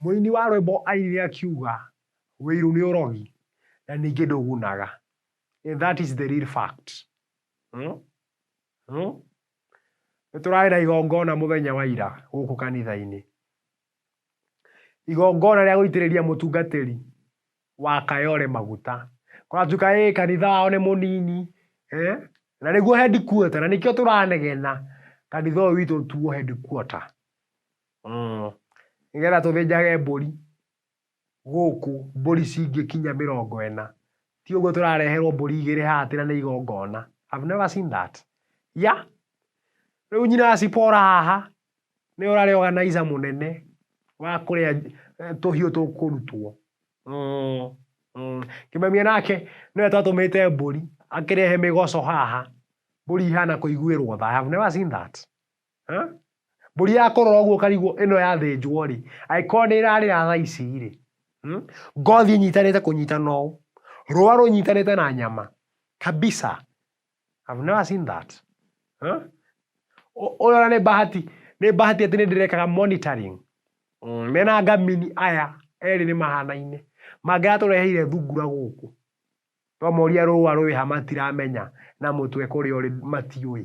Mũini wa rwĩmbo airire akiuga, Wĩiru nĩ ũrogi na ningĩ ndũgunaga. And that is the real fact. Hmm? Hmm? Nĩ tũrarĩ na igongona mũthenya wa ira gũkũ kanitha-inĩ. Igongona rĩa gũitĩrĩria mũtungatĩri wa Kayore maguta. Kũratuĩka ĩ kanitha wao nĩ mũnini. Eh? Na nĩguo headquarter na nĩkĩo tũranegena kanitha ũyũ witũ tuo headquarter. Mm. Nĩgetha tũthĩnjage mbũri gũkũ, mbũri cingĩkinya mĩrongo ĩna. Ti ũguo tũrareherwo mbũri igĩrĩ haha atĩ na nĩ igongona. I've never seen that. Yeah. Rĩu nyina wa Sipora haha, nĩwe ũrarĩ organizer mũnene wa kũrĩa eh, tũhiũ tũkũrutwo. Mm. Mm. Kĩmemia nake nĩwe twatũmĩte mbũri akĩrehe mĩgoco haha. Mbũri ihana kũiguĩrwo tha. I have never seen that. Huh? Mbũri ya kũrora ũguo ũkarigwo ĩno yathĩnjwo rĩ, angĩkorwo nĩ ĩrarĩra thaa ici rĩ, hmm? ngothi ĩnyitanĩte kũnyitana ũũ, rũa rũnyitanĩte na nyama kabisa. I've never seen that. Huh? Ũyũ ona nĩ bahati, nĩ bahati atĩ nĩ ndĩrekaga monitoring. Mm, mena ngamini aya erĩ nĩ mahanaine. Mangĩra tũreheire thungura gũkũ. Twamoria rũa rwĩha matiramenya na mũtwe kũrĩa ũrĩ matiũĩ.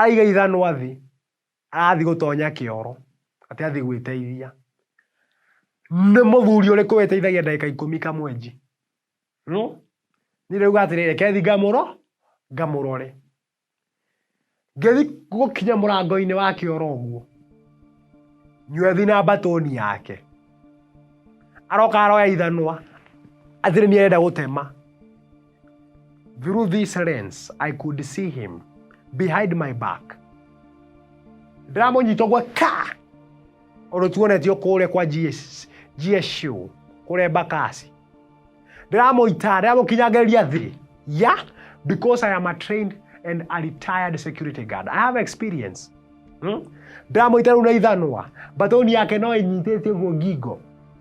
Aiga ithanwa thĩ, arathiĩ gũtonya kĩoro, atĩ athiĩ gwĩteithia. Nĩ mũthuri ũrĩkũ wĩteithagia ndagĩka ikũmi kamwenji? No, niĩ ndĩrauga atĩrĩ, reke thiĩ ngamũro, ngamũrore. Ngĩthiĩ gũkinya mũrango-inĩ wa kĩoro ũguo, nywethi na mbatũni yake, aroka aroya ithanwa, atĩ nĩ niĩ arenda gũtema. Through this lens, I could see him behind my back. Ndĩramunyita ũguo ka ũndũ tuonetio kũrĩa kwa GS GSU kũrĩa Bakasi. Ndĩramuita, ndĩramukinyangĩrĩria thĩ. Yeah, because I am a trained and a retired security guard. I have experience. Hmm? Ndĩramuita rĩu na ithanwa. Mbatoni yake no ĩnyitĩte ũguo ngingo.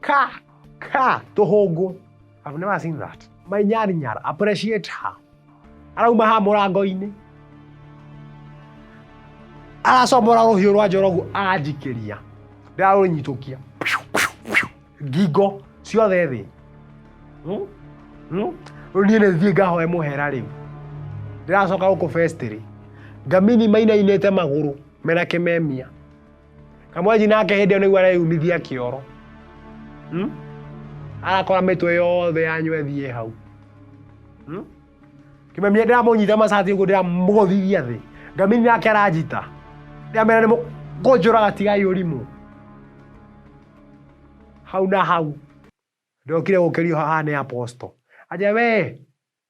Ka, ka, tũhũngũ. I've never seen that. My nyar nyar, appreciate her. Arauma ha mũrango-inĩ. Aracomora rũhiũ rwa njorogu anjikĩria. Ndarũnyitũkia. Ngingo ciothe thĩ. Hmm? Hmm? Rĩu niĩ nĩ thiĩ ngahoe mũhera rĩu. Ndĩracoka gũkũ festĩrĩ. Ngamini mainainĩte magũrũ mena kĩmemia. kamwanji nake hĩndĩ ĩyo nĩguo areyumithia kĩoro hmm? arakora mĩtwe yothe yanyu ĩthiĩ hau hmm? kĩmemia ndĩramũnyita macati ũguo ndĩramũgũthithia thĩ ngamini nake aranjita ndĩramera nĩ mũkũnjũraga tigai ũrimũ hau na hau ndokire gũkĩrio haha nĩ aposto aja wee